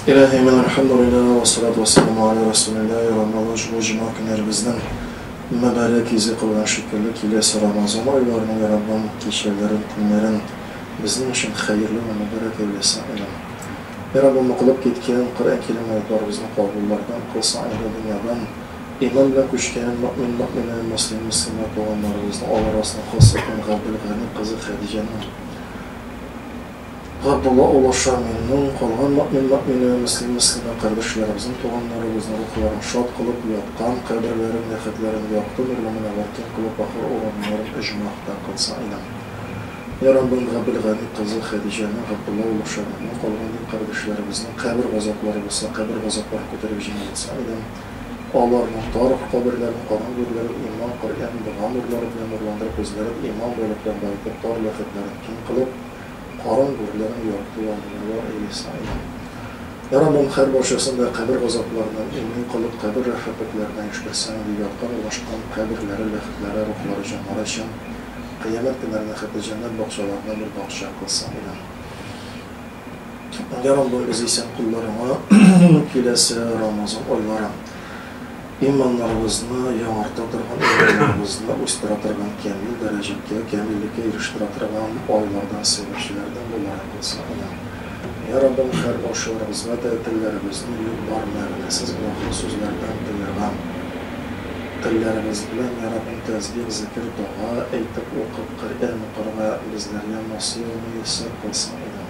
Илаһи мин әлхәмдүлилләһ вә салату вә сәламү галә рәсүлилләһ Йә Рамазан шул җомга көннәребезнең мөбарәк йөзе кылган шикелле киләсе Рамазан айларының Йә Раббым кичәләрен көннәрен безнең өчен хәерле вә мөбарәк әйләсен илем Йә Раббым укылып киткән Коръән кирим аятьларыбызны кабуллардан кылсын әһле дөньядан иман белән күчкән мөэмин мөэминә мөслим мөслимә туганнарыбызны алар арасыннан Хосыйкан Габделгани кызы Хәдиҗәнең Габдулла улы Шамилнең, калган мөэмин-мөэминә вә мөслим-мөслимә кардәшләребезнең, туганнарыбызның рухларын шат кылып, яткан каберләрен, ләхетләрен якты нурлы мөнәвәр киң кылып, ахыр урыннарын әҗмах та кылсын, иләм. Я Раббым, Габел Гани кызы Хәдиҗәнең, Габдулла улы Шамилнең, калган дин кардәшләребезнең кабер газаплары булса, кабер газапларын күтәреп җиңеләйтсен, иләм. Аларның тарх каберләрен, каран гүрләрен иман, Коръән, дога нурлары белән нурландырып, үзләрен иман байлык белән баетып, тар ләхетләрен киң кылып, кара гүрләнең яртылануы оеса иде. Урамның һәр бакчасында кабер газапларыннан имни калып, кабер рәхәпетләренә ишберсең, ди, ятка урнашкан каберләре, ләхетләре, рухлары, җаннары өчен кыямәт көннәрендә хәтта җәннәт бакчаларына бер бакча кылса була. Йа Раббыбыз, исән кулларыңа киләсе Рамазан айлары. Иманнарыбызны яңарта торган, иманнарыбызны үстерә торган, кәмил дәрәҗәгә, кәмиллеккә ирештерә торган айлардан, сәбәпчеләрдән буларак булса гына. Йә Раббым, һәр баручыларыбызга да телләребезне юк бар мәгънәсез гөнаһлы сүзләрдән тыйган, телләребез белән, йә Раббым, тәсбих, зикер, дога әйтеп, укып, Коръән укырга безләргә насыйгъ-мөяссәр кылсаң идең.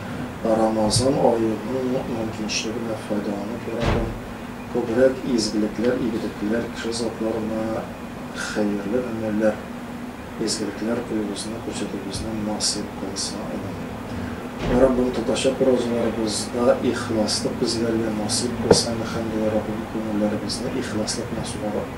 Рамазан аеның мөмкинчелегенә файдаланып яратам, күбрәк изгелекләр, игелекләр, кеше затларына хәерле гамәлләр, изгелекләр куюыбызны, күрсәтүебезне насыйп кылса иде. Раббым, татарча прозаларыбызда ихласлык безләргә насыйп кылса, мөхәммәди Раббым, күңелләребезне ихласлык белән сугарып.